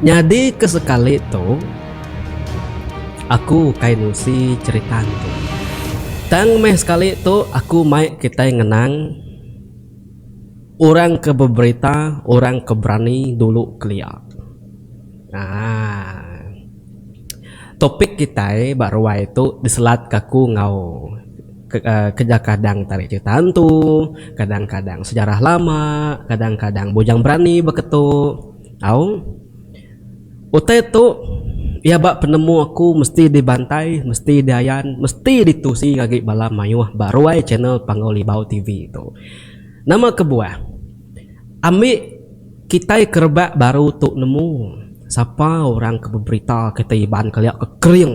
Nyadi ke sekali tu aku kai nusi cerita tu tang meh sekali tu aku mai kitai ngenang orang ke beberita orang ke berani dulu kelia aaa topik kitai ba ruai tu diselatka aku enggau. Kereja kadang tarik cerita antu, kadang kadang sejarah lama, kadang kadang bujang berani beketu. Au. Utai tu iya ba penemu aku mesti dibantai, mesti diayan, mesti ditusi agi bala mayuh ba ruai channel Panggau Libau TV tu. Nama kebuah ambi kitai ke rebak baru tu nemu sapa orang ke beberita kitai Iban kelia ke kering.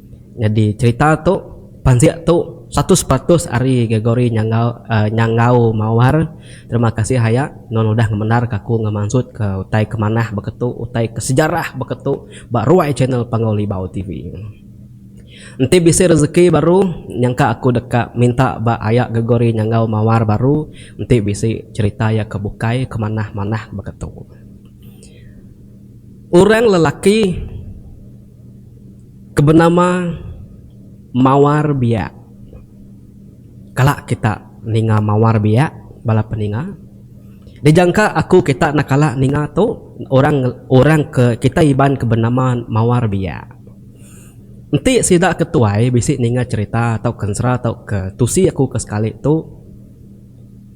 Nyadi cherita tu pansik tu satus peratus ari Gregory Nyangau Nyangau Mawar terima kasih aya nuan udah ngemendar ka aku ngemansut ka utai ke manah baka tu utai ke sejarah baka tu ba ruai channel Panggau Libau TV. Enti bisi rezeki baru nyangka aku deka minta ba aya Gregory Nyangau Mawar baru enti bisi cherita iya ke bukai ke manah manah baka tu. Orang lelaki. Ke benama mawar biak. Kala kita ninga mawar biak bala peninga. Dijangka aku kita enda kala ninga tu orang orang ke kita iban ke benama mawar biak. Enti sida ke tuai bisi ninga cherita tau kensera tau ke tusi aku ke sekali tu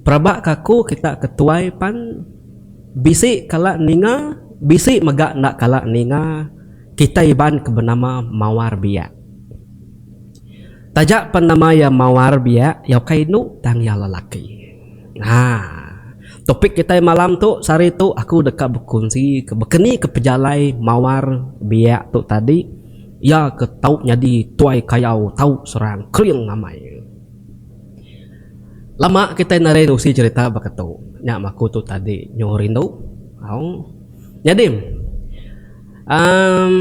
peraba ke aku kita ke tuai pan bisi kala ninga bisi mega enda kala ninga. kitai Iban ke benama Mawar Biak. Taja pen nama iya Mawar Biak, iya ukai indu tang iya lelaki. Ha. Topik kitai malam tu sehari tu aku deka bekunsi ke bekeni ke pejalai Mawar Biak tu tadi iya ke tau nyadi tuai kayau tau serang kering amai. Lama kitai nadai nerusi cherita baka tu. Nya maku tu tadi nyu rindu. Au. Nyadim, emm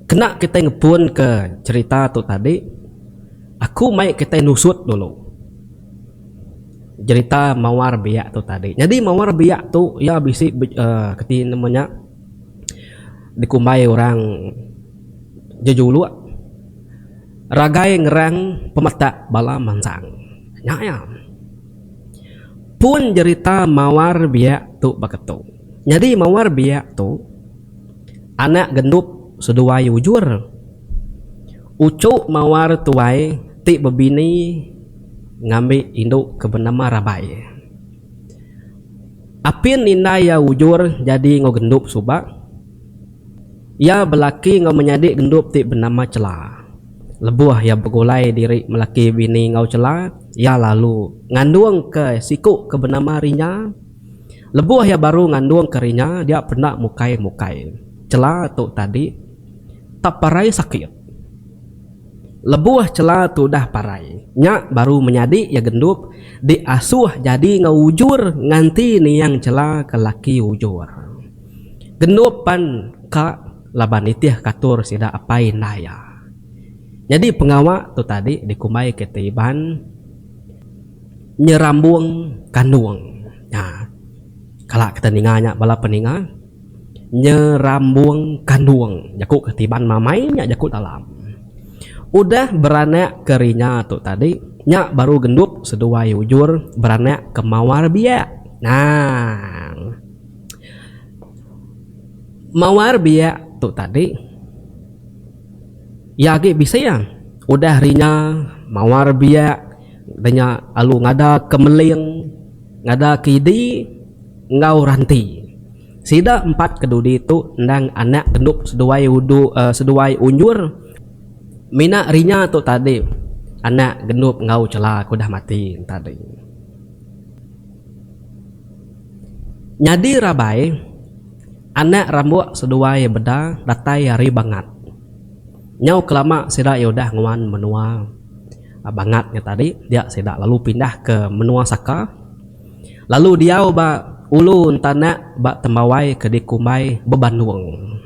kena kitai ngepunka cherita tu tadi, aku mai kitai nusut dulu cherita mawar biak tu tadi. Nyadi mawar biak tu iya bisi uhh reti nama nya dikumbai orang jejuluk ragai ngerang pemetak bala mansang. Nya iya. Pun jerita mawar biak tu baka tu. Nyadi mawar biak tu anak gendup seduai ujur. Uchu mawar tuai ti bebini ngambi indu ke benama rabai. Apin indai iya ujur jadi enggau gendup suba Iya belaki enggau menyadi gendup ti benama Chela. Lebuh iya begulai diri melaki bini enggau Chela, iya lalu ngandungka siku ke benama Rinya. Lebuh iya baru ngandungka Rinya, dia peda mukai-mukai Chela tu tadi tap parai sakit. Lebuh Chela tu udah parai, nya baru menyadi iya gendup diasuh jadi enggau Ujur nganti niang Chela ke laki Ujur. Gendup pan ka laban nitih katur sida apai indai iya. Nyadi pengawa tu tadi dikumbai kitai Iban nyerambung kandung. Nya kala kita ninga nya bala peninga nyerambung kandung jaku kitai Iban mamai nya jaku dalam. Udah beranak ke rinya tu tadi nya baru gendup seduai ujur beranak ke mawar biak. Naang. Mawar biak tu tadi iya agi bisi iya udah hari nya mawar biak udah nya lalu ngada ke meling ngada ke idi enggau ranti sida empat ke dudi tu endang anak gendup seduai udu seduai unjur mina hari nya tu tadi anak gendup enggau chela ke udah mati tadi. Nyadi rabai, anak rambuk seduai meda datai ari Bangat. Nyau kelama sida iya udah nguan menua Bangat nya tadi dia sida lalu pindah ke menua Saka lalu diau ba Ulu Entanak ba Tembawai ke dikumbai Bebandong.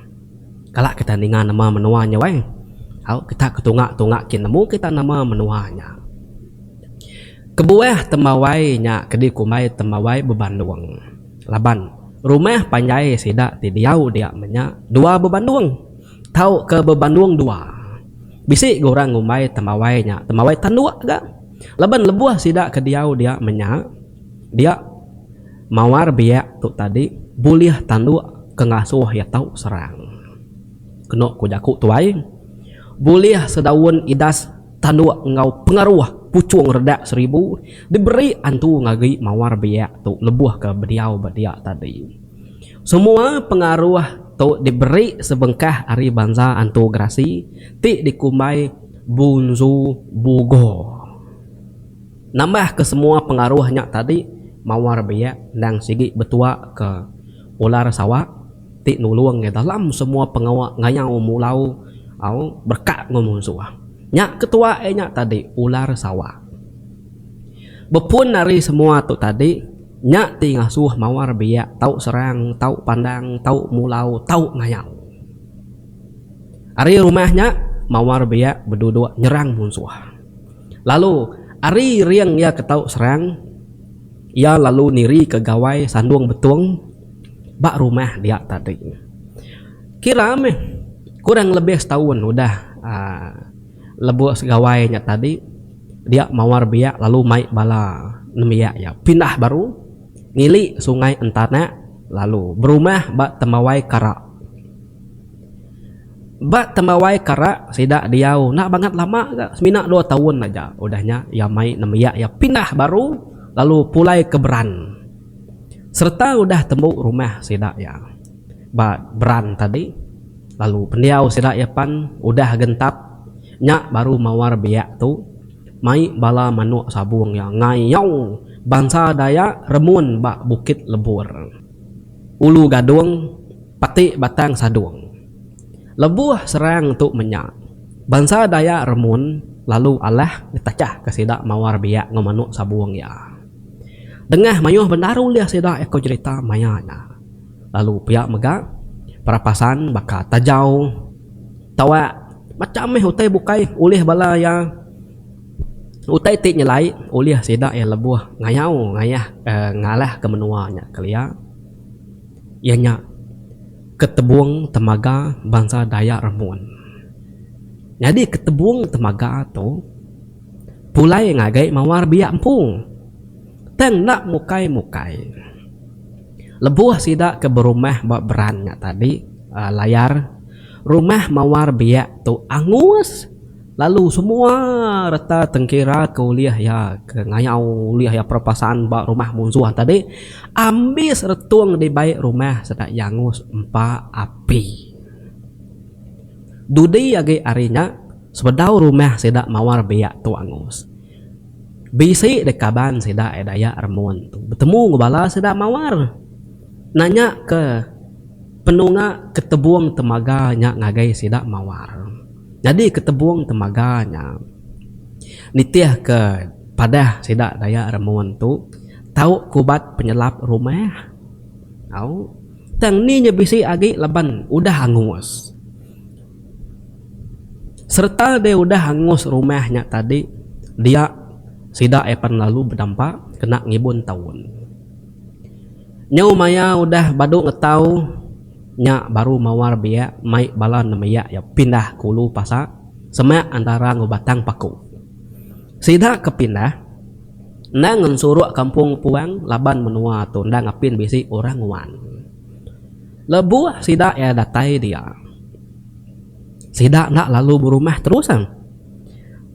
Kala kita ninga nama menua nya weh. Au kita ke tunga-tunga kin nemu kita nama menua nya. Kebuah temawai nya ke dikumbai temawai bebandung laban rumah panjai sida ti diau dia menya dua bebandung tauka bebandung dua. Bisi ga orang ngumbai temawai nya temawai tanduk ga laban lebuh sida ke diau dia menya dia mawar biak tu tadi bulih tanduk ke ngasuh iya tau serang. Kenu ku jaku tuai bulih sedaun idas. Tanduk enggau pengaruh puchung redak seribu diberi antu ngagi mawar biak tu lebuh ke bediau ba dia tadi. Semua pengaruh tu diberi sebengkah ari bansa antu gerasi ti dikumbai Bunzu Bugo. Nambah ke semua pengaruh nya tadi mawar biak endang sigi betua ke ular sawak, ti nulung iya dalam semua pengawa ngayau mulau au berekat enggau munsuh. Nya ketua iya nya tadi ular sawa. Bepun ari semua tu tadi, nya ti ngasuh mawar biak tau serang, tau pandang, tau mulau, tau ngayau. Ari rumah nya, mawar biak beduduk nyerang munsuh. Lalu, ari ring iya ke tau serang, iya lalu nirika gawai sandung betung Ba rumah dia tadi. Kira meh kurang lebih setahun udah lebuh segawai nya tadi dia mawar biak lalu mai bala nembiak iya pindah baru ngili sungai entanak lalu berumah ba tembawai kara. Ba tembawai kara sida diau enda bangat lama ga semina dua tahun aja udah nya iya mai nembiak iya pindah baru lalu pulai ke beran. sereta udah tembu rumah sida iya ba Brant tadi lalu pendiau sida iya pan udah gentap nya baru mawar biak tu mai bala manuk sabung iya ngayau bansa Dayak remun ba Bukit Lebur, Ulu Gadung, Pati Batang Sadong. Lebuh serang tu menya, bansa Dayak remun lalu alah ngetachka sida mawar biak enggau manuk sabung iya. Dengah mayuh bendar ulih sida eko jerita maya nya. Lalu pia mega, perapasan baka tajau, tawak, macham meh utai bukai ulih bala iya. Utai ti nyelai ulih sida iya lebuh ngayau ngayah ngalahka menua nya kelia iya nya ketebong temaga bansa Dayak Remun. Nyadi ketebong temaga tu Pulai ngagai mawar biak empung. Tang enda mukai-mukai. Lebuh sida ke berumah ba Beran nya tadi, Layar, rumah mawar biak tu angus lalu semua reta tengkira ke ulih iya ke ngayau ulih iya perpasaan ba rumah munsuh tadi ambis retung dibai rumah sida iya angus empa api. Dudi agi ari nya. Sebedau rumah sida mawar biak tu angus. Bisi deh kaban sida ai dayak remun tu betemu enggau bala sida mawar nanya ke penunga ketebong temaga nya ngagai sida mawar. Nyadi ketebong temaga nya nitih ke padah sida dayak remun tu tau ke ubat penyelap rumah tau tang ni nya bisi agi laban udah angus. Sereta deh udah angus rumah nya tadi dia sida iya pan lalu bedampa kena ngibun taun. Nyau maya udah badu ngetau nya baru mawar biak mai bala nembiak iya pindah ke ulu pasa semak antara enggau Batang Paku. Sida ke pindah endang ngensuruk kampung puang laban menua tu endang apin bisi orang nguan. Lebuh sida iya datai dia, sida enda lalu berumah terus.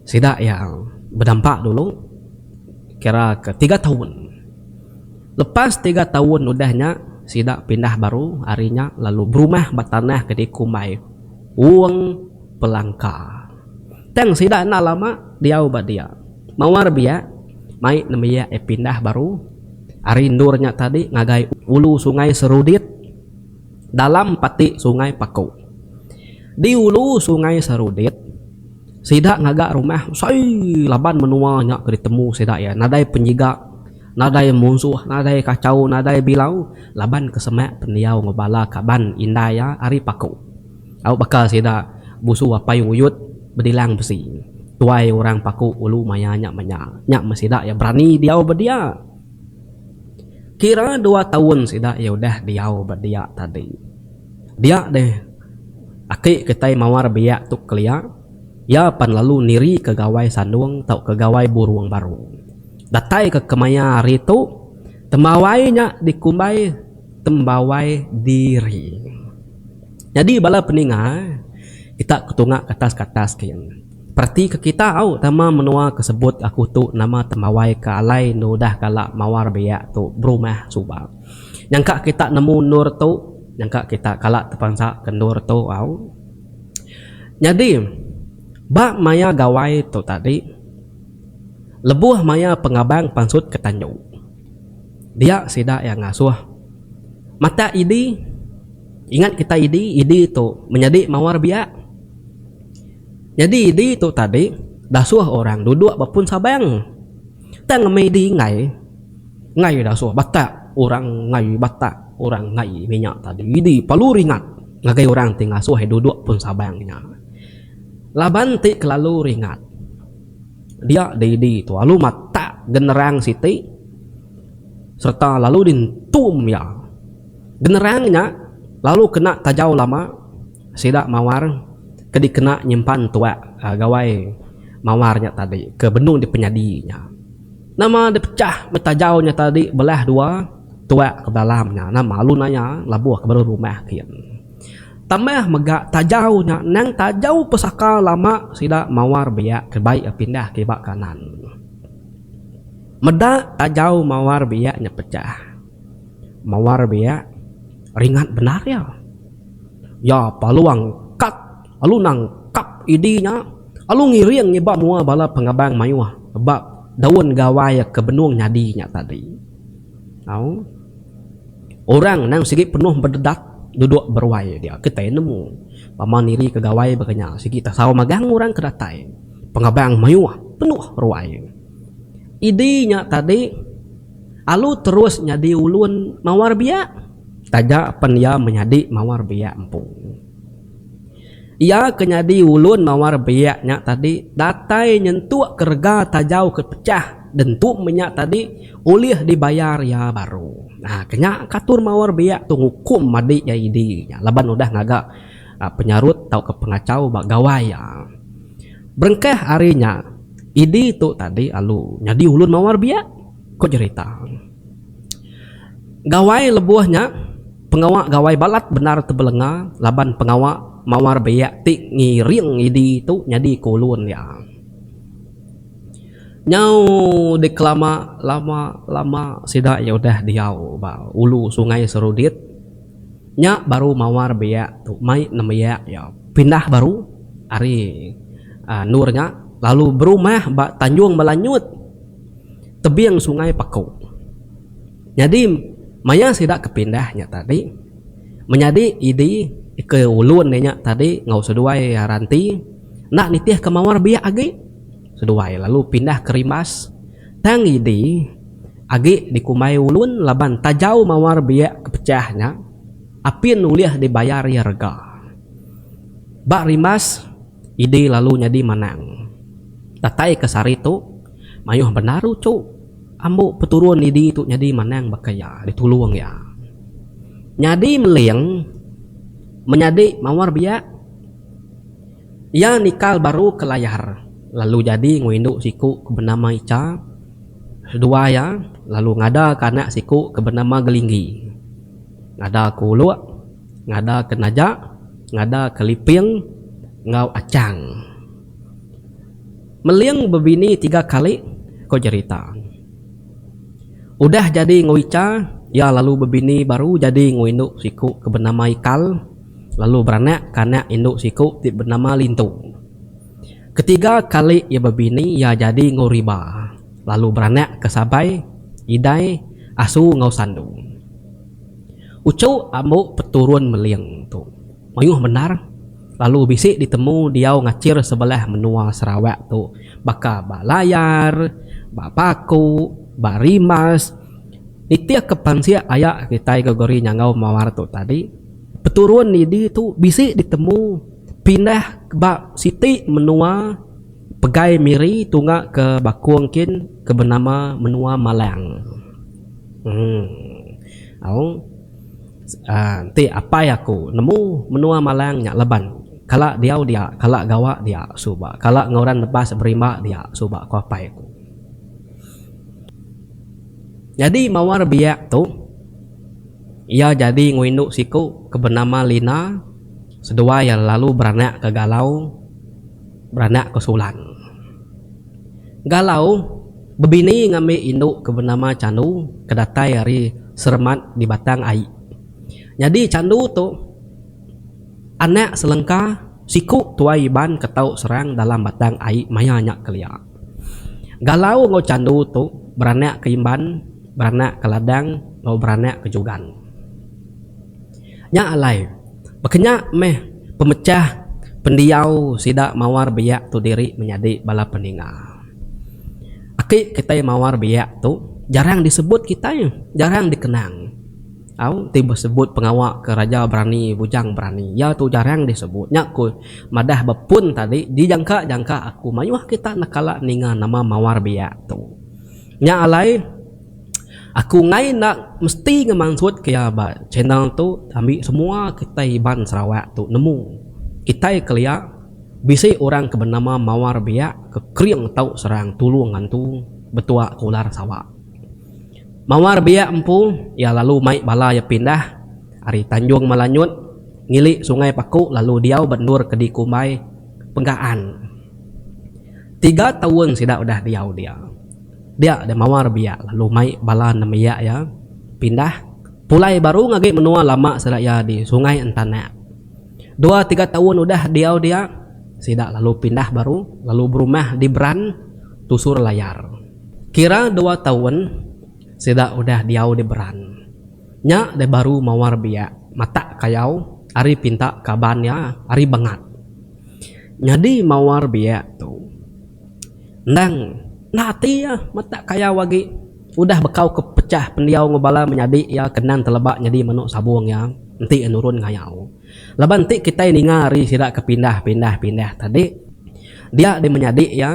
Sida iya bedampak dulu kira ke tiga taun. Lepas tiga taun udah nya, sida pindah baru ari nya lalu berumah ba tanah ke dikumbai Wong Pelangka. Tang sida enda lama diau ba dia. Mawar biak mai nembiak iya pindah baru. Ari endur nya tadi ngagai ulu Sungai Serudit dalam pati Sungai Paku. Di ulu Sungai Serudit, sida ngaga rumah besai laban menua nya ke ditemu sida iya nadai penyiga, nadai munsuh, nadai kachau, nadai bilau laban ke semak pendiau enggau bala kaban indai iya ari Paku. Au baka sida musu apai nguyut bedilang besi. Tuai orang paku ulu maya nya manya. Nya meh sida iya berani diau ba dia. Kira dua taun sida iya udah diau ba dia tadi. Dia deh aki kitai mawar biak tu kelia, iya pan lalu nirika gawai sandung tauka gawai burung baru. Datai ka kemaya hari tu, tembawai nya dikumbai tembawai diri. Nyadi bala peninga kita ketunga ke atas ke atas gin. Perati ke kita au tama menua ke sebut aku tu nama tembawai ke alai endur udah kala mawar biak tu berumah suba. Nyangka kita nemu endur tu nyangka kita kala tepansa ke endur tu au. Nyadi ba maya gawai tu tadi lebuh maya pengabang pansut ke tanjung dia sida iya ngasuh matak idi. Ingat kitai idi idi tu menyadi mawar biak. Nyadi idi tu tadi dasuh orang duduk ba pun sabang. Tang ngemi idi enggai enggai dasuh batak orang enggai batak orang enggai minyak tadi idi perlu ringat ngagai orang ti ngasuh iya duduk pun sabang nya. Laban ti kelalu ringat dia di idi tu lalu matak generang siti sereta lalu di entum iya. Generang nya lalu kena tajau lama sida mawar ke dikena nyimpan tuak gawai mawar nya tadi ke benung dipenyadi nya. Nama dipechah meh tajau nya tadi belah dua tuak ke belalam nya nama alu naya labuh ke baru rumah kin. Tambah mega tajau nya endang tajau pesaka lama sida mawar biak ke bai iya pindah ke iba kanan. Meda tajau mawar biak nya pechah. Mawar biak ringat bendar iya. Ya paluang kad alu nang kap idi nya alu ngiring ngiba mua bala pengabang mayuh ba daun gawai ke benung nyadi nya tadi. Au. Orang nang sigi penuh bededat duduk beruai dia kitai nemu pama nirika gawai baka nya sigi tasau magang orang ke datai. Pengabang mayuh penuh ruai. Idi nya tadi. Alu terus nyadi ulun mawar biak taja pen iya menyadi mawar biak empu. Iya ke nyadi ulun mawar biak nya tadi datai nyentuk ke rega tajau ke pecah dentum nya tadi ulih dibayar iya baru. Nah, ke nya ka atur mawar biak tu ngukum madi iya idi nya laban udah ngaga penyarut tauka pengachau ba gawai iya. Berengkah ari nya, idi tu tadi alu nyadi ulun mawar biak. ku jerita. Gawai lebuh nya pengawa gawai balat bendar tebelenga laban pengawa mawar biak ti ngiring idi tu nyadi ke ulun iya. Nyau dikelama lama lama sida iya udah diau ba ulu sungai serudit nya baru mawar biak tu mai nembiak iya pindah baru ari endur nya lalu berumah ba tanjung melanyut. tebing sungai Paku. Nyadi maya sida ke pindah nya tadi menyadi Idi ke ulun iya nya tadi enggau seduai Ranti enda nitih ke mawar biak agi seduai lalu pindah ke Rimbas tang Idi agi dikumbai ulun laban tajau mawar biak ke pecah nya apin ulih dibayar iya rega. Ba Rimbas Idi lalu nyadi Manang. Datai ke sehari tu. Mayuh benaru tu ambu peturun idi tu nyadi manang baka iya ditulung iya. Nyadi meling menyadi mawar biak iya nikal baru ke layar lalu jadi enggau indu siku ke benama Icha seduai iya lalu ngada ke anak siku ke benama Gelinggi. Ngada ke Uluk, ngada ke Naja, ngada ke Liping enggau Achang. Meling bebini tiga kali ko jerita. Udah jadi enggau Icha, iya lalu bebini baru jadi enggau indu siku ke benama Ikal lalu beranak ka anak indu siku ti benama Lintu. Ketiga kali iya bebini iya jadi enggau Riba lalu beranak ka Sabai, Idai, Asu enggau Sandu. Uchu ambo peturun Meling tu. Mayuh bendar lalu bisi ditemu diau ngachir sebelah menua Sarawak tu baka ba Layar, ba Paku, ba Rimas. Nitih ke pansik aya kitai Gregory Nyangau Mawar tu tadi, peturun nidi tu bisi ditemu pindah ba siti menua pegai miri tunga ke bakung kin ke benama menua Malang. Emm au. Aaa enti apai aku nemu menua malang nya leban kala diau dia kala gawa dia suba kala ngaran nebas berimba dia suba ku apai aku. Nyadi mawar biak tu iya jadi enggau indu siku ke benama Lina seduai iya lalu beranak ke Galau beranak ke Sulan. Galau, bebini ngambi indu ke benama Chandu ke datai ari Seremat di Batang Ai. Nyadi Chandu tu anak selengka siku tuai Iban ke tau serang dalam Batang Ai maya nya kelia. Galau enggau Chandu tu beranak ke Imban, beranak ke Ladang enggau beranak ke Jugan. Nya alai, baka nya meh pemechah pendiau sida mawar biak tu diri menyadi bala peninga. Aki kitai mawar biak tu jarang disebut kitai, jarang dikenang. Au, ti besebut pengawa ke raja berani, bujang berani, iya tu jarang disebut. Nya ku madah ba pun tadi, dijangka-jangka aku mayuh kita nekala ninga nama mawar biak tu. Nya alai. Aku enggai enda mesti ngemansut ke iya ba channel tu ambi semua kitai Iban Sarawak tu nemu kitai kelia bisi orang ke benama Mawar Biak ke kering tau serang tulung antu betua ke ular sawa. Mawar Biak empu iya lalu mai bala iya pindah ari Tanjung Malanyut ngili Sungai Paku lalu diau ba endur ke dikumbai Penggaan. Tiga taun sida udah diau dia. Biak deh mawar biak lalu mai bala nembiak iya pindah pulai baru ngagi menua lama sida iya di Sungai Entanak. Dua tiga taun udah diau dia, sida lalu pindah baru lalu berumah di Beran, Tusur Layar. Kira dua taun sida udah diau di Beran, nya deh baru mawar biak matak kayau ari pinta kaban iya ari Bengat. Nyadi mawar biak tu. Endang enda ati iya metak kayau agi udah bekau ke pechah pendiau enggau bala menyadi iya ke endang teleba nyadi menu sabung iya enti iya nurun ngayau. Laban enti kitai ninga ari sida ke pindah pindah pindah tadi dia di menyadi iya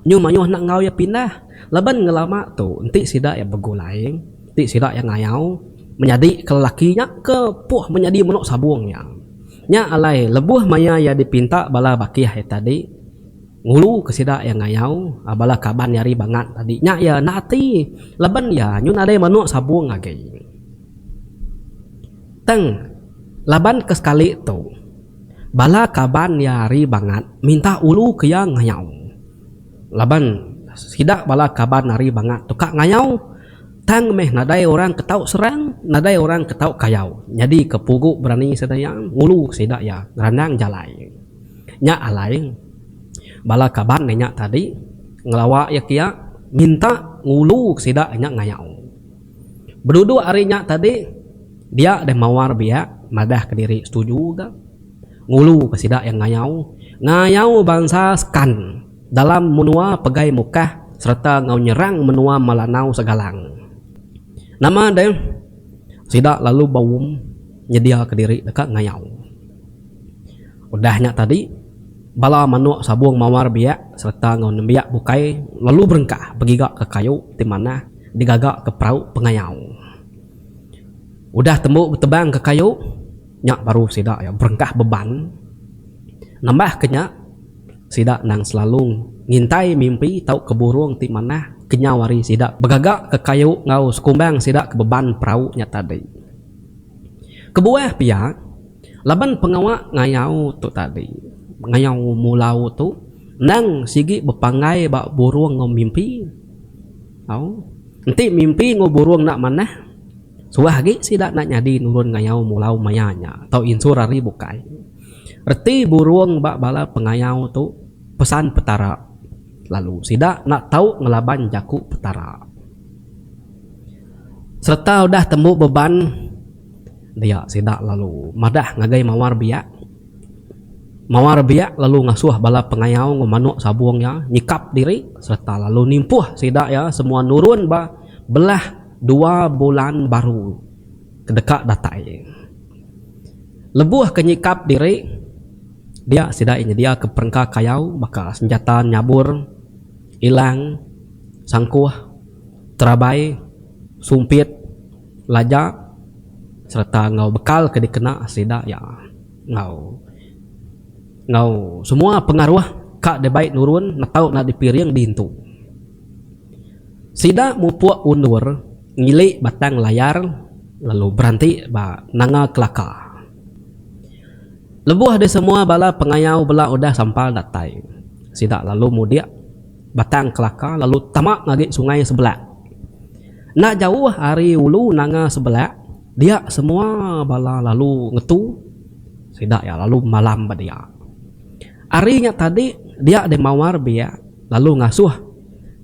nyu mayuh enda enggau iya pindah laban ngelama tu enti sida iya begulai enti sida iya ngayau menyadi ke lelaki nya ke puh menyadi menu sabung iya. Nya alai lebuh maya iya dipinta bala bakih iya tadi. Ngulu ke sida iya ngayau bala kaban iya ari Bangat tadi nya iya enda ati laban iya nyun nadai menoa sabong agi. Tang laban ke sekali tu bala kaban iya ari Bangat minta ulu ke iya ngayau laban sida bala kaban ari Bangat tu ka ngayau tang meh nadai orang ke tau serang nadai orang ke tau kayau nyadi ke pugu berani sida iya ngulu sida iya ngerandang jalai. Nya alai, bala kaban inya tadi ngelawa iya kia minta nguluka sida inya ngayau. Beduduk ari nya tadi, dia deh mawar biak madahka diri setuju ga nguluka sida iya ngayau, ngayau bansa Skan dalam menua Pegai Mukah sereta enggau nyerang menua Melanau Segalang. Nama deh, sida lalu baum nyediaka diri deka ngayau. Udah nya tadi, bala manuk sabung mawar biak sereta enggau nembiak bukai lalu berengkah begiga ke kayu ti manah digaga ke perau pengayau. Udah tembu betebang ke kayu, nya baru sida iya berengkah beban. Nambah ke nya, sida endang selalu ngintai mimpi tauka burung ti manah kenyau hari sida begaga ke kayu enggau sekumbang sida ke beban perau nya tadi. Kebuah pia, laban pengawa ngayau tu tadi, ngayau mulau tu endang sigi bepanggai ba burung enggau mimpi. Au, enti mimpi enggau burung enda manah, suah agi sida enda nyadi nurun ngayau mulau maya nya tau insur ari bukai. Reti burung ba bala pengayau tu pesan Petara, lalu sida enda tau ngelaban jaku Petara. Sereta udah tembu beban dia sida lalu madah ngagai mawar biak. Mawar biak lalu ngasuh bala pengayau enggau manuk sabung iya nyikap diri sereta lalu nimpuh sida iya semua nurun ba belah dua bulan baru ke deka datai. Lebuh ke nyikap diri, dia sida iya nyediaka perengka kayau baka senjata nyabur, ilang, sangkuh. Terabai, sumpit, laja sereta enggau bekal ke dikena sida iya enggau enggau semua pengaruh ka dibai nurun netau enda dipiring diintu. Sida mupuk undur ngili batang layar lalu beranti ba Nanga Kelaka. Lebuh disemua bala pengayau bela udah sampal datai, sida lalu mudik. Batang Kelaka lalu tama ngagai Sungai Sebelak. Enda jauh ari ulu Nanga Sebelak, dia semua bala lalu ngetu sida iya lalu malam ba dia. Ari nya tadi dia deh mawar biak lalu ngasuh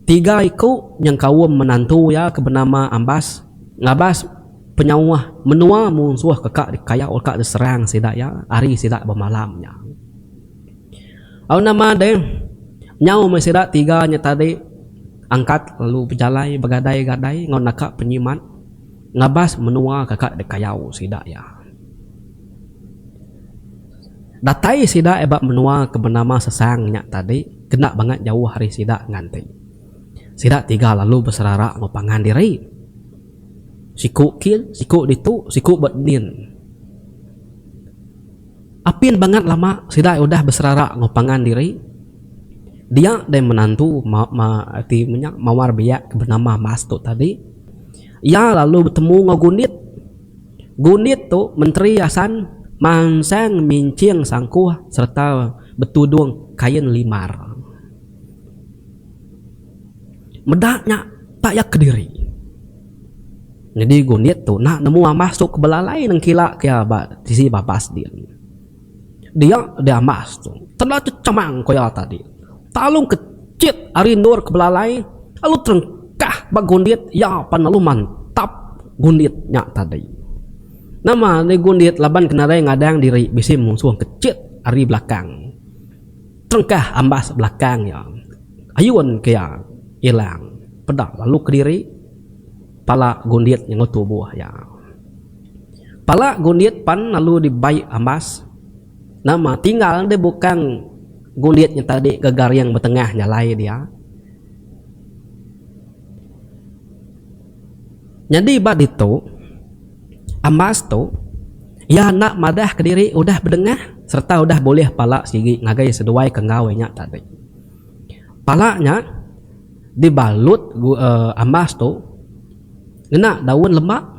tiga iku nyengkaum menantu iya ke benama Ambas ngabas penyauh menua munsuh ke ka dikayau ka diserang sida iya ari sida bemalam nya. Au nama deh. Nyau meh sida tiga nya tadi angkat lalu bejalai begadai-gadai enggau naka penyimat ngabas menua ka ka dikayau sida iya. Datai sida iya ba menua ke benama Sesang nya tadi kenda bangat jauh ari sida ngan ti. Sida tiga lalu beserara enggau pangan diri. Siku kin, siku ditu, siku ba din. Apin bangat lama sida udah beserara enggau pangan diri. Dia deh menantu ti menya mawar biak ke benama Mas tu tadi. Iya lalu betemu enggau Gundit. Gundit tu menteri asan mansang minching sangkuh sereta betudung kain limar. Meda nya tak iya kediri. Nyadi gunit tu enda nemu ambas tu ke belalai nengkila ke iya ba tisi babas din. Dia di ambas tu tedau chechemang ku iya tadi. Talung ke chit ari endur ke belalai lalu terengkah ba gunit iya pan lalu mantap gunit nya tadi. Nama gunit laban ke nadai ngadang diri bisi musuh ke chit ari belakang. Tengkah ambas belakang iya, ayun ke iya ilang peda lalu kediri pala gundit nyengau tubuh iya. Pala gundit pan lalu dibai ambas nama tinggal deh bukang gundit nya tadi ke garing betengah jalai dia. Nyadi ba ditu, Ambas tu iya enda madah kediri udah bedengah sereta udah bulih pala sigi ngagai seduai ke enggau inya tadi. Pala nya dibalut Ambas tu ngena daun lema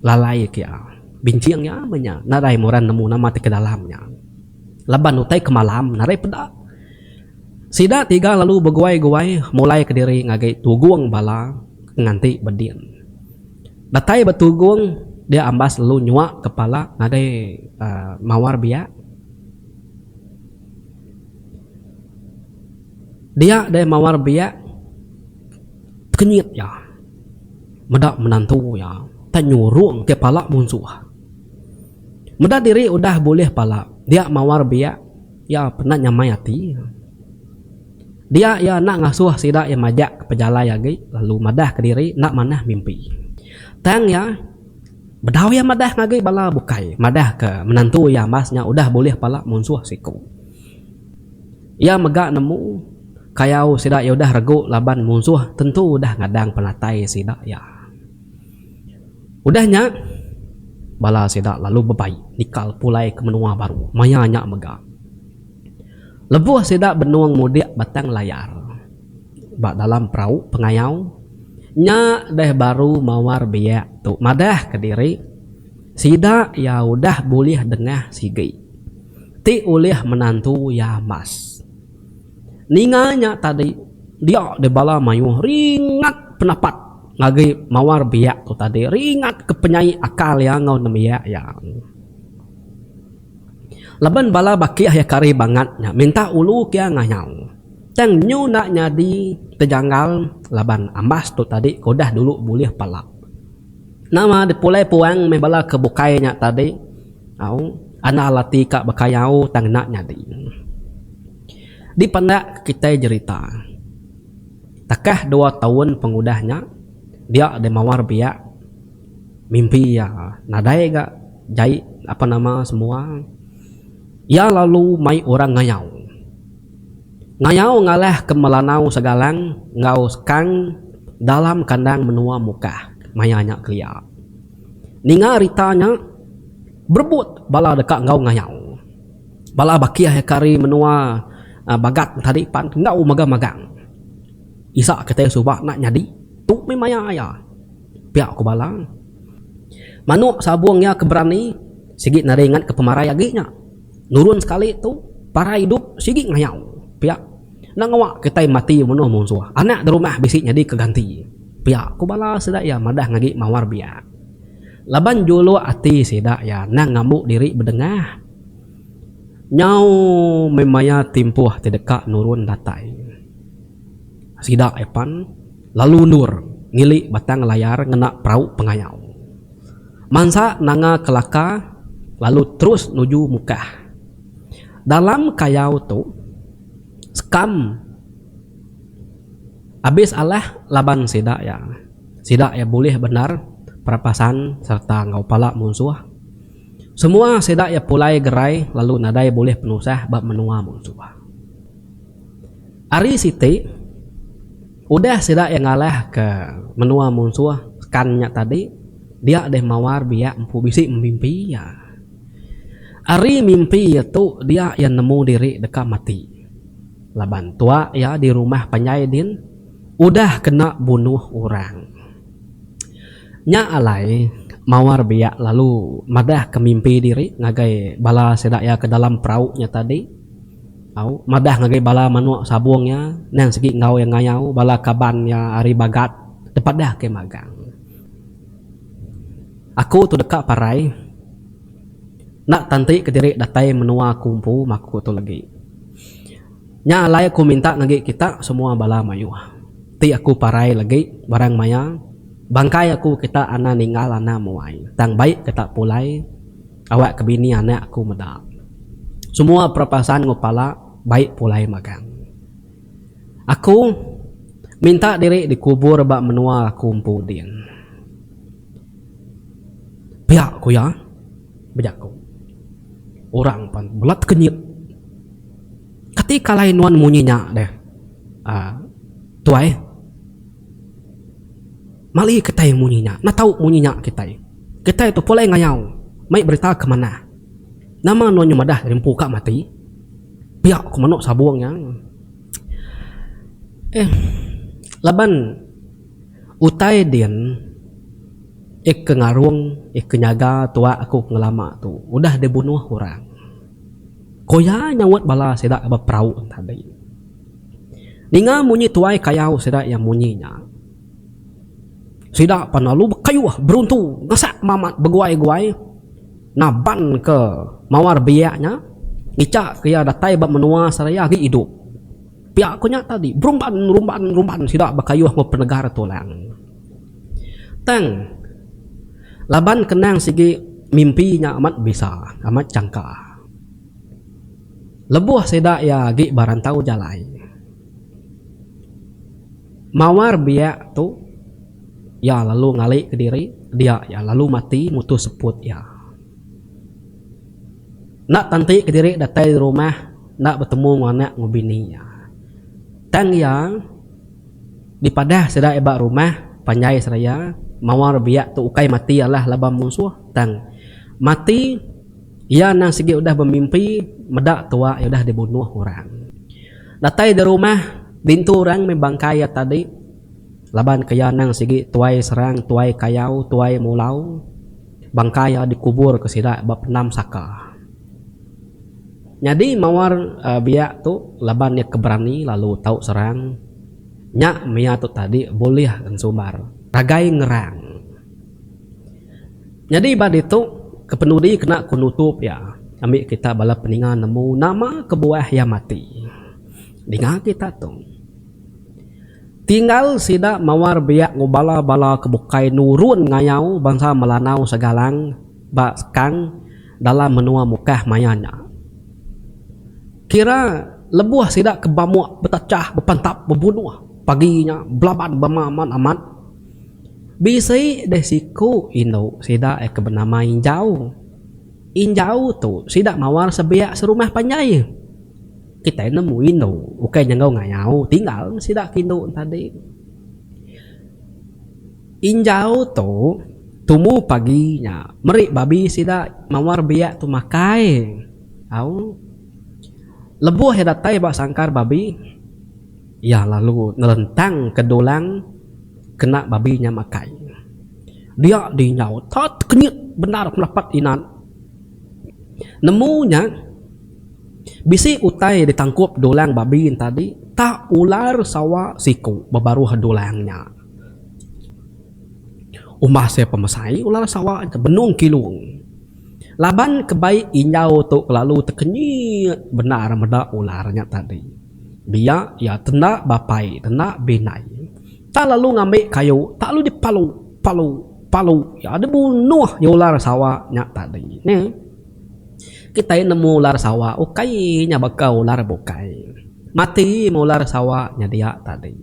lalai ke iya. Binching iya meh nya nadai muran nemu nama ti ke dalam nya. Laban utai ke malam narai peda. Sida tiga lalu beguai-guai mulai ke diri ngagai tugung bala ke nganti ba din. Datai ba tugung, dia ambas lalu nyuak kepala ngagai mawar biak. Dia deh mawar biak tekenyit iya meda menantu iya tanyurung kepala munsuh. Meda diri udah bulih pala, dia mawar biak iya penat nyamai ati. Dia iya enda ngasuh sida iya majak ke pejalai agi lalu madahka diri enda manah mimpi. Tang iya, bedau iya madah ngagai bala bukai, madahka menantu iya ambas nya udah bulih pala munsuh siku. Iya mega nemu, kayau sida iya udah regu laban munsuh tentu udah ngadang penatai sida iya. Udah nya, bala sida lalu bebai nikal pulai ke menua baru maya nya mega. Lebuh sida benung mudik Batang Layar ba dalam perau pengayau, nya deh baru mawar biak tu madah ke diri sida iya udah bulih dengah sigi ti ulih menantu iya mas. Ninga nya tadi, dia deh bala mayuh ringat pendapat ngagai mawar biak tu tadi. Ringat ke penyai akal iya enggau nembiak iya. Laban bala bakih iya kari bangat nya minta ulu ke iya ngayau. Tang nyu enda nyadi tejanggal laban ambas tu tadi ke udah dulu bulih pala. Nama dipulai puang meh bala ke bukai nya tadi au anal ati ka baka yau tang enda nyadi. Dipandak kitai jerita takah dua taun pengudah nya dia deh mawar biak mimpi iya nadai ga jai apa nama semua iya lalu mai orang ngayau. Ngayau ngalah ke Melanau Segalang enggau Sekang dalam kandang menua Mukah maya nya kelia. Ninga rita nya, berebut bala deka enggau ngayau. Bala bakih eka ari menua Bagat tadi pan enggau mega magang. Isa kitai suba enda nyadi, tu mih maya iya, pia ku bala. Manuk sabung iya ke berani sigi nadai nganka pemarai agi nya. Nurun sekali tu parai idup sigi ngayau pia enda ngawa kitai mati menuh munsuh anak di rumah bisi nyadi ke ganti pia ku bala sida iya madah ngagi mawar biak laban juluk ati sida iya endang ngambu diri bedengah nyau meh maya timpuh ti deka nurun datai sida iya pan lalu endur ngili batang layar ngena perau pengayau. Mansa nanga kelaka lalu terus nuju mukah. Dalam kayau tu sekam abis alah laban sida iya. Sida iya bulih bendar perapasan sereta enggau pala munsuh. Semua sida iya pulai gerai lalu nadai bulih penusah ba menua munsuh. Ari siti, udah sida iya ngalahka menua munsuh kan nya tadi, dia deh mawar biak empu bisi memimpi iya. Ari mimpi iya tu dia iya nemu diri deka mati laban tua iya di rumah panjai din udah kena bunuh orang. Nya alai mawar biak lalu madahka mimpi diri ngagai bala sida iya ke dalam perau nya tadi. Au, madah ngagai bala manuk sabung iya, endang sigi enggau iya ngayau bala kaban iya ari Bagat tepadah ke magang. Aku tu deka parai enda tanti ke diri datai menua aku empu maku tu legi. Nya alai aku minta ngagi kita semua bala mayuh ti aku parai legi barang maya bangkai aku kita ana ninggal ana muai tang baik kita pulai. Awak ke bini anak aku meda. Semua perapasaan enggau pala baik pulai magang. Aku minta diri dikubur ba menua aku empu din. Pia ku iya bejaku. Orang pan mela tekenyit. Kati kalai nuan munyi nya deh, Tuai? Mali kitai munyi nya, enda tau munyi nya kitai. Kitai tu pulai ngayau mai berita ke manah. Nama nuan nyau madah ari empu ka mati? Pia ku meno sabung nya. Eh, laban utai din eh ke ngarung eh ke nyaga tua aku ngelama tu udah dibunuh orang. Ku iya nyaut bala sida ba perau tadi. Ninga munyi tuai kayau sida iya munyi nya. Sida pan lalu bekayuh beruntu ngasak Mamat beguai-guai nabanka mawar biak nya ngichakka iya datai ba menua seraya agi idup. Pia ku nya tadi, berumban rumban rumban sida bekayuh enggau penegar tulang. Tang laban kenang sigi mimpi nya amat bisa, amat changka. Lebuh sida iya agi ba rantau jalai mawar biak tu, iya lalu ngali ke diri dia iya lalu mati mutus seput iya. Enda tanti ke diri datai di rumah enda betemu enggau anak enggau bini iya. Tang iya dipadah sida iya ba rumah panjai seraya mawar biak tu ukai mati alah laban munsuh tang mati. Iya endang sigi udah bemimpi meda tua iya udah dibunuh orang. Datai di rumah, dintu orang mih bangkai iya tadi laban ke iya endang sigi tuai serang, tuai kayau, tuai mulau. Bangkai iya dikubur ke sida ba Pendam Saka. Nyadi mawar biak tu laban iya ke berani lalu tau serang. Nya mih iya tu tadi bulih ensumbar ragai ngerang. Nyadi ba ditu kepenudi kena ku nutup iya ami kita bala peninga nemu nama kebuah iya mati. Dinga kita tu. Tinggal sida mawar biak enggau bala-bala ke bukai nurun ngayau bansa Melanau segalang ba sekang dalam menua Mukah maya nya. Kira lebuh sida ke bamuk betechah bepantap bebunuh pagi nya belaban bama amat amat. Bisi deh siku indu sida ke benama Injau. Injau tu sida mawar sebiak serumah panjai. Kitai nemu indu ukai nyenggau ngayau tinggal meh sida ke indu enti tadi. Injau tu tumu pagi nya meri babi sida mawar biak tu makai. Au. Lebuh iya datai ba sangkar babi. Iya lalu ngelentang ke dulang kena babi nya makai. Dia dinyau ta tekenyit bendar pelapat inan. Nemu nya, bisi utai ditangkup dulang babi tadi ta ular sawa siku bebaruh dulang nya. Umbah sia pemesai, ular sawa nya benung kilung. Laban kebai injau tu kelalu tekenyit bendar meda ular nya tadi. Biak iya tenda bapai tenda binai tang lalu ngambi kayu tak lalu di palu palu palu iya di bunuh nya ular sawa nya tadi ne. Kitai nemu ular sawa ukai nya baka ular bukai mati meh ular sawa nya dia tadi.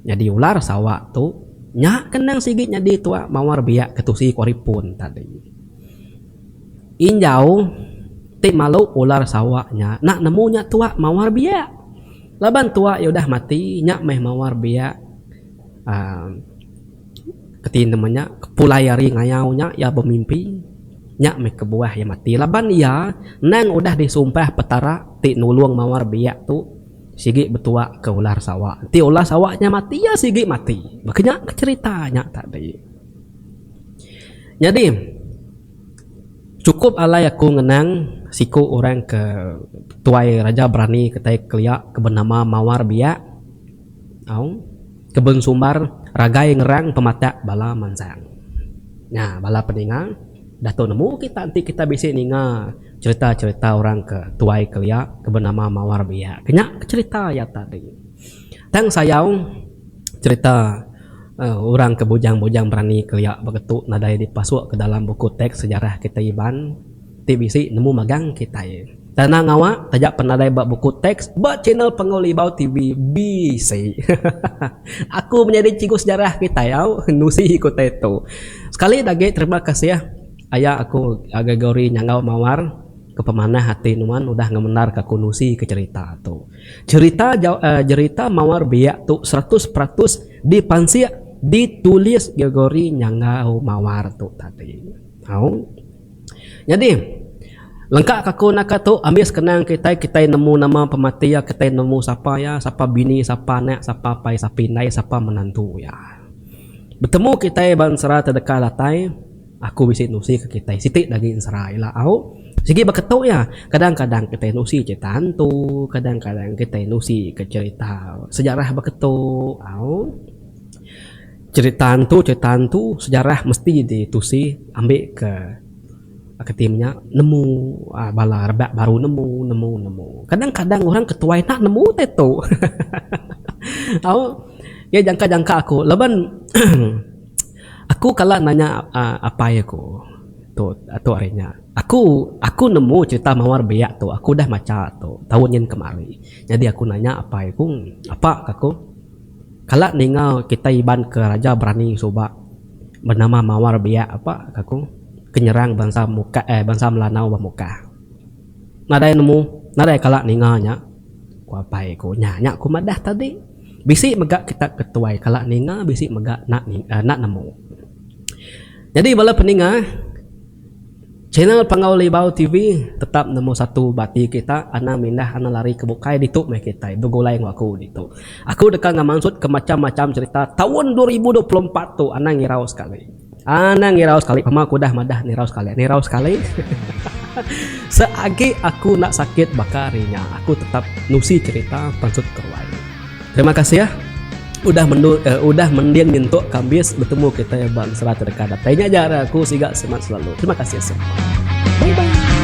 Nyadi ular sawa tu nya ke nang sigi nyadi tuak mawar biak ke tusi ku ari pun tadi. Injau ti malu ular Sarawak nya enda nemu nya tuak mawar biak. Laban tuak iya udah mati nya meh mawar biak uhh reti nama nya pulai ari ngayau nya iya bemimpi nya meh kebuah iya mati laban iya endang udah disumpah petara ti nulung mawar biak tu sigi betuak ke ular Sarawak. Enti ular Sarawak nya mati iya sigi mati. Meh ke nya cherita nya tadi. Nyadi, chukup alai aku ngenang siku orang ke tuai Raja Berani kitai kelia ke benama Mawar Biak au ke bensumbar ragai ngerang pematak bala mansang. Nya bala peninga datu nemu kita enti kita bisi ninga cherita-cherita orang ke tuai kelia ke benama Mawar Biak ke nya ke cherita iya tadi. Tang sayau cerita orang ke bujang-bujang berani ke iya baka tu nadai dipasuk ke dalam buku teks sejarah kitai Iban ti bisi nemu magang kitai. Tanang awa taja pan nadai ba buku teks ba channel Panggau Libau TV bisi. Aku menyadi cikgu sejarah kitai au nusi ku utai tu. Sekali dah agi terima kasih aya aku Gregory Nyanggau Mawar ke pemanah ati nuan udah ngemendar ka aku nusi ke cerita tu. Cherita jerita mawar biak tu seratus peratus dipansik ditulis Gregory nyanggau mawar tu tadi. Au. Nyadi, lengka ka aku naka tu ambi sekenang kitai, kitai nemu nama pemati iya, kitai nemu sapa iya, sapa bini, sapa anak, sapa apai, sapa indai, sapa menantu iya. Betemu kitai ba ensera tedeka datai. Aku bisi nusi ke kitai siti da agi ensera ila au. Sigi ba ketu iya, kadang-kadang kitai nusi cerita hantu, kadang-kadang kitai nusi ke cerita sejarah ba ketu au. Cerita hantu, cerita hantu, sejarah mesti ditusi ambi ke aka ti inya nemu aaa bala rebak baru nemu, nemu, nemu. Kadang-kadang orang ke tuai enda nemu utai tu. Au. Iya jangka-jangka aku laban Aku kala nanya apai aku tu tu hari nya. Aku aku nemu cerita mawar biak tu aku udah macha tu taun nyin kemari. Nyadi aku nanya apai aku, Apa, ka aku, kala ninga kitai Iban ke raja berani suba benama mawar biak apa, ka aku, ke nyerang bansa muka eh bansa Melanau ba Mukah. Nadai nemu, nadai kala ninga nya, ku apai aku. Nya nya aku madah tadi. Bisi mega kita ke tuai kala ninga bisi mega enda enda nemu. Nyadi bala peninga channel Panggau Libau TV tetap nombor satu ba ati kita anang mindah anang lari ke bukai ditu meh kitai begulai enggau aku ditu. Aku deka ngemansut ke macam-macam cherita taun dua ribu dua puluh empat tu anang irau sekali. Anang irau sekali pama aku udah madah nirau sekali nirau sekali seagi aku enda sakit baka hari nya aku tetap nusi cerita pansut ke ruai terima kasih udah mendu udah mending nyentuk ke ambis betemu kitai ba ensera ke deka datai nya ja ari aku siga semangat selalu terima kasih bye bye.